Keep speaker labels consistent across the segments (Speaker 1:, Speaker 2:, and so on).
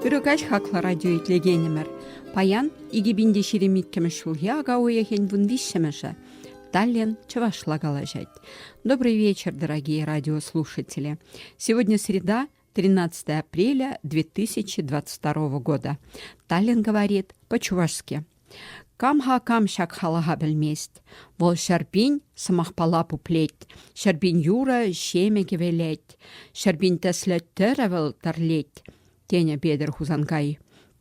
Speaker 1: Ырӑ хаклӑ радио итлекенӗмӗр. Паян 2024 ҫул уйӑхӗн вун виҫҫӗмӗшӗ. Таллин чӑвашла калаҫать. Добрый вечер, дорогие радиослушатели. Сегодня среда, 13 апреля 2022 года. Таллин говорит по-чувашски. Камха кам ҫак халаха пӗлмест. Вӑл ҫәрпин сӑмахпала пуплет, ҫәрпин юрӑ ҫемӗ кӗвелет, ҫәрпин тӗслӗ тӗрӗ вӑл тӗрлет, тенӗ Петӗр Хусанкай.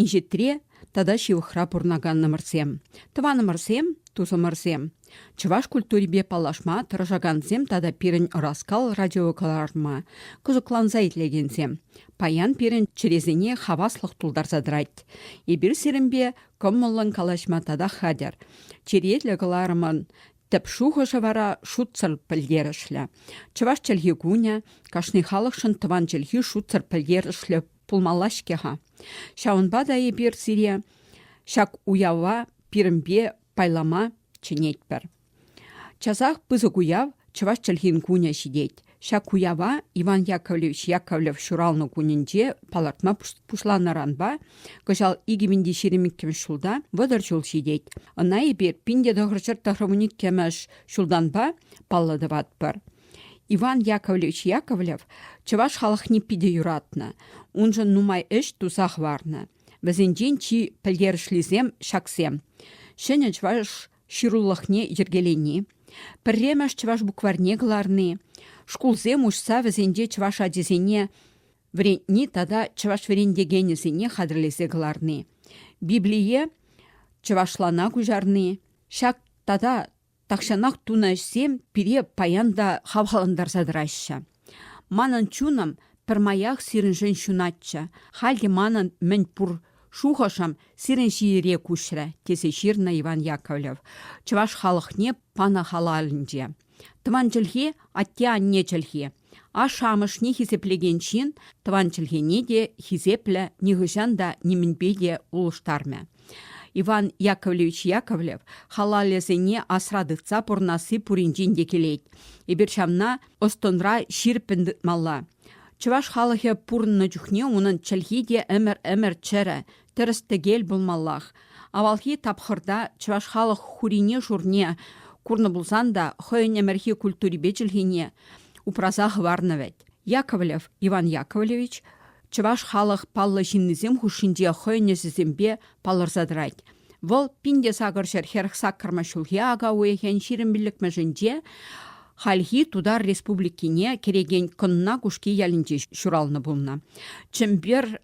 Speaker 1: Инҫетре тата ҫывӑхра пурӑнаканнӑмӑрсем, тӑванӑмӑрсем, тусӑмӑрсем, чӑваш культурипе паллашма тӑрӑшакансем тата пирӗн ӑраскал радиокӑларӑма кӑсӑкланса итлекенсем, паян пирӗн чӗресене хаваслӑх тултарса тӑрать. Эпир сирӗнпе кӑмӑллӑн калаҫма татах хатӗр. Черетлӗ кӑларӑмӑн тӗп шухӑшӗ вара шутсӑр пӗлтерӗшлӗ. Чӑваш чӗлхи кунӗ кашни халӑхшӑн тӑван чӗлхи шутсӑр пӗлтерӗшлӗ пулмалла-ҫке-ха. Ҫавӑнпа та эпир сире ҫак уява пирӗнпе пайлама чӗнетпӗр. Часах пысӑк уяв Чӑваш чӗлхин кунӗ ҫитет. Ҫак уява Иван Яковлевич Яковлев ҫуралнӑ кунӗнче палӑртма пуҫланӑранпа кӑҫал 2022 ҫулта вӑтӑр ҫул ҫитет. Ӑна эпир пин те тӑхӑрҫӗр тӑхрӑмӗн иккӗмӗш ҫултанпа паллӑ тӑватпӑр. Иван Яковлевич Яковлев чӑваш халӑхне питӗ юратнӑ, уншӑн нумай ӗҫ туса хӑварнӑ. Вӗсенчен чи пӗлтерӗшлисем ҫаксем: ҫӗнӗ чӑваш ҫырулӑхне йӗркелени, пӗрремӗш чӑваш букварьне кӑларни, шкулсем уҫса вӗсенче чӑваш ачисене вӗрентни тата чӑваш вӗрентекенӗсене хатӗрлесе кӑларни, Библие чӑвашлана куҫарни, ҫак тата Тахҫанах тунӑ ӗҫсем пире паян та хавхалантарса тӑраҫҫӗ. Манӑн чунӑм пӗрмаях сирӗншӗн ҫунатчӗ. Халь те манӑн мӗн пур шухӑшӑм сирӗн ҫиере куҫрӗ, тесе ҫырнӑ Иван Яковлев чӑваш халӑхне панӑ халалӗнче. Тӑван чӗлхе – атте-анне чӗлхи. Ашшӗ-амӑшне хисеплекен ҫын тӑван чӗлхене те хисеплӗ, нихӑҫан та нимӗнпе те улӑштармӗ. Иван Яковлевич Яковлев халалӗсене асра тытса пурӑнасси пуринчен те килет. Эпир ҫавна ӑс-тӑнра ҫирӗппӗн тытмалла. Чӑваш халӑхӗ пурӑннӑ чухне унӑн чӗлхи те ӗмӗр-ӗмӗр чӗрӗ, тӗрӗс-тӗкел пулмаллах. Авалхи тапхӑрта чӑваш халӑх хурине-шурне курнӑ пулсан та хӑйӗн ӗмӗрхи культурипе чӗлхине упраса хӑварнӑ вӗт. Яковлев Иван Яковлевич чӑваш халӑх паллӑ ҫыннисем хушшинче хӑйӗн ӗҫӗсемпе палӑрса тӑрать. Вӑл пин те сакӑр ҫӗр хӗрӗх-саккӑрмӗш ҫулхи ака уйӑхӗн ҫирӗм пиллӗкмӗшӗнче хальхи Тутар Республикине кӗрекен Кӑнна Кушки ялӗнче ҫуралнӑ пулнӑ. Чӗмпер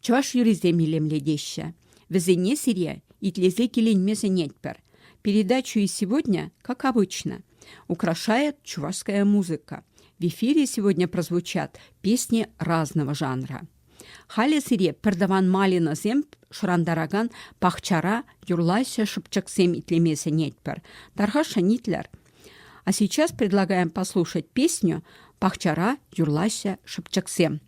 Speaker 1: Чӑваш юррисем илемлетеҫҫӗ. Вӗсене сире итлесе киленме сӗнетпӗр. Передачу и сегодня, как обычно, украшает чувашская музыка. В эфире сегодня прозвучат песни разного жанра. Халӗ сире пӗртӑван малинӑсем шӑрантаракан пахчара юрлаҫҫӗ шӑпчӑксем итлеме сӗнетпӗр. Тархашшӑн итлер. А сейчас предлагаем послушать песню «Пахчара юрлаҫҫӗ шӑпчӑксем».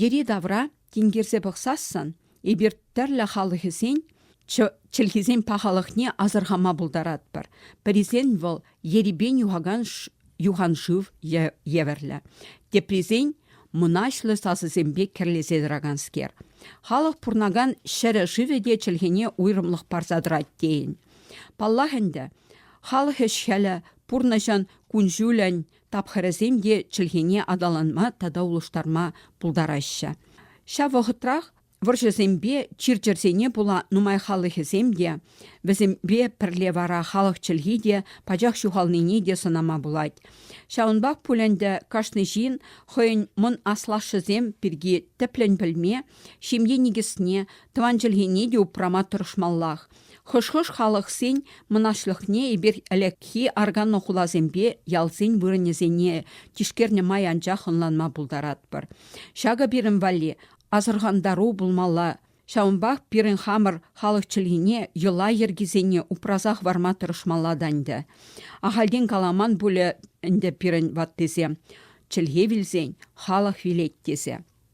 Speaker 1: Йӗри-тавра тинкерсе пӑхсассӑн эпир тӗрлӗ халӑхӗсен чӗлхисен пахалӑхне асӑрхама пултаратпӑр. Пӗрисен вӑл ерипен юхакан юханшыв евӗрлӗ, теприсен мӑнаҫлӑ сасӑсемпе кӗрлесе тӑраканскер. Халӑх пурнакан ҫӗрӗ шывӗ те чӗлхене уйрӑмлӑх парса тӑрать тейӗн. Паллах ӗнтӗ, халӑх ӗҫ-хӗлӗ, пурнӑҫӑн кун-ҫулӗн тапхӑрӗсем те чӗлхене аталанма тата улӑштарма пултараҫҫӗ. Ҫав вӑхӑтрах вӑрҫӑсемпе чир-чӗрсене пула нумай халӑхӗсем те, вӗсемпе пӗрле вара халӑх чӗлхи те пачах ҫухалнине те сӑнама пулать. Ҫавӑнпах пуль ӗнтӗ кашни ҫын хӑйӗн мӑн аслашшӗсем пирки тӗплӗн пӗлме, ҫемье никӗсне, тӑван чӗлхене те упрама тӑрӑшмаллах. Хӑш-хӑш халӑхсен мӑнаҫлӑхне эпир ӗлӗкхи арканнӑ хуласемпе ялсен вырӑнӗсене тишкернӗ май анчах ӑнланма пултаратпӑр. Ҫакӑ пирӗн валли асӑрхантару пулмалла, ҫавӑнпах пирӗн хамӑр халӑх чӗлхине йӑла-йӗркисене упраса хӑварма тӑрӑшмалла та ӗнтӗ. Ахальтен каламан пулӗ ӗнтӗ пирӗн ваттисем чӗлхе вилсен халӑх вилет тесе.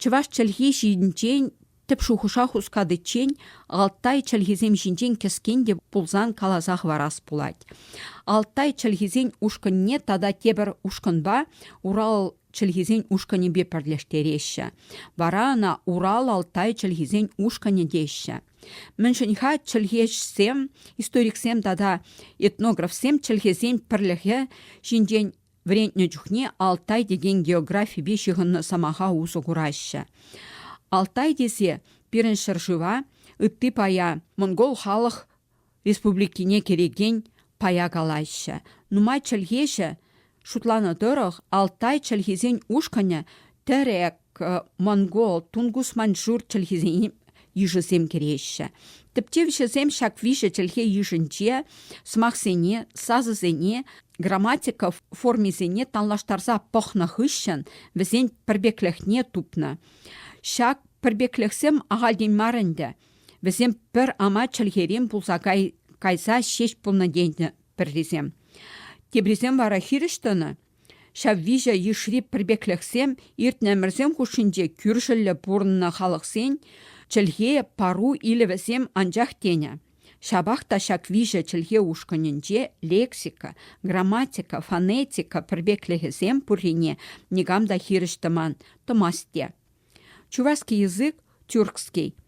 Speaker 1: Чӑваш чӗлхи ҫинчен тӗп шухӑша хускатиччен Алтай чӗлхисем ҫинчен кӗскен те пулсан каласа хӑварас пулать. Алтай чӗлхисен ушкӑнне тата тепӗр ушкӑнпа Урал чӗлхисен ушкӑнӗпе пӗрлештереҫҫӗ. Вара ӑна Урал-Алтай чӗлхисен ушкӑнӗ теҫҫӗ. Мӗншӗн-ха чӗлхешсем, историксем тата этнографсем чӗлхесен пӗрлӗхӗ ҫинчен Вӗрентнӗ чухне Алтай текен географипе ҫыхӑннӑ сӑмаха усӑ кураҫҫӗ. Алтай тесе пирӗн ҫӗршыва ытти пая монгол халӑх республикине кӗрекен пая калаҫҫӗ. Нумай чӗлхеҫӗ шутланӑ тӑрӑх Алтай чӗлхисен ушкӑнӗ тӗрек, монгол, тунгус маньчжур чӗлхисен йышӗсем кӗреҫҫӗ. Тӗптевҫӗсем ҫак виҫӗ чӗлхе йышӗнче сӑмахсене, сасӑсене, грамматика формисене танлаштарса пӑхнӑ хыҫҫӑн вӗсен пӗрпеклӗхне тупнӑ. Ҫак пӗрпеклӗхсем ахальтен мар ӗнтӗ. Вӗсем пӗр ама чӗлхерен пулса кайса ҫеҫ пулнӑ тенӗ пӗррисем. Теприсем вара хирӗҫ тӑнӑ, Ҫав виҫӗ йышри пӗрпеклӗхсем иртнӗ ӗмӗрсем хушшинче кӳршӗллӗ пурӑннӑ халӑхсен чӗлхе пару илӗвӗсем анчах тенӗ. Ҫапах та ҫак виҫӗ чӗлхе ушкӑнӗнче лексика, грамматика, фонетика пӗрпеклӗхӗсем пуррине никам та хирӗҫ тӑман, тӑмасть те. Чувашский язык, тюркский,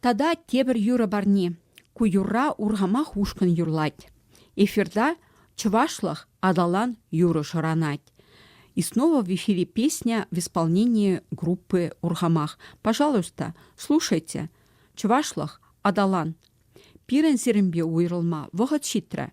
Speaker 1: Тата тепӗр юрӑ парни. Ку юрра урхамах ушкӑн юрлать. Эфирта чӑвашлӑх аталан юрӑ шӑранать. И снова в эфире песня в исполнении группы Урхамах. Пожалуйста, слушайте. Чӑвашлӑх аталан. Пирӗн сирӗнпе уйрӑлма вӑхӑт ҫитрӗ.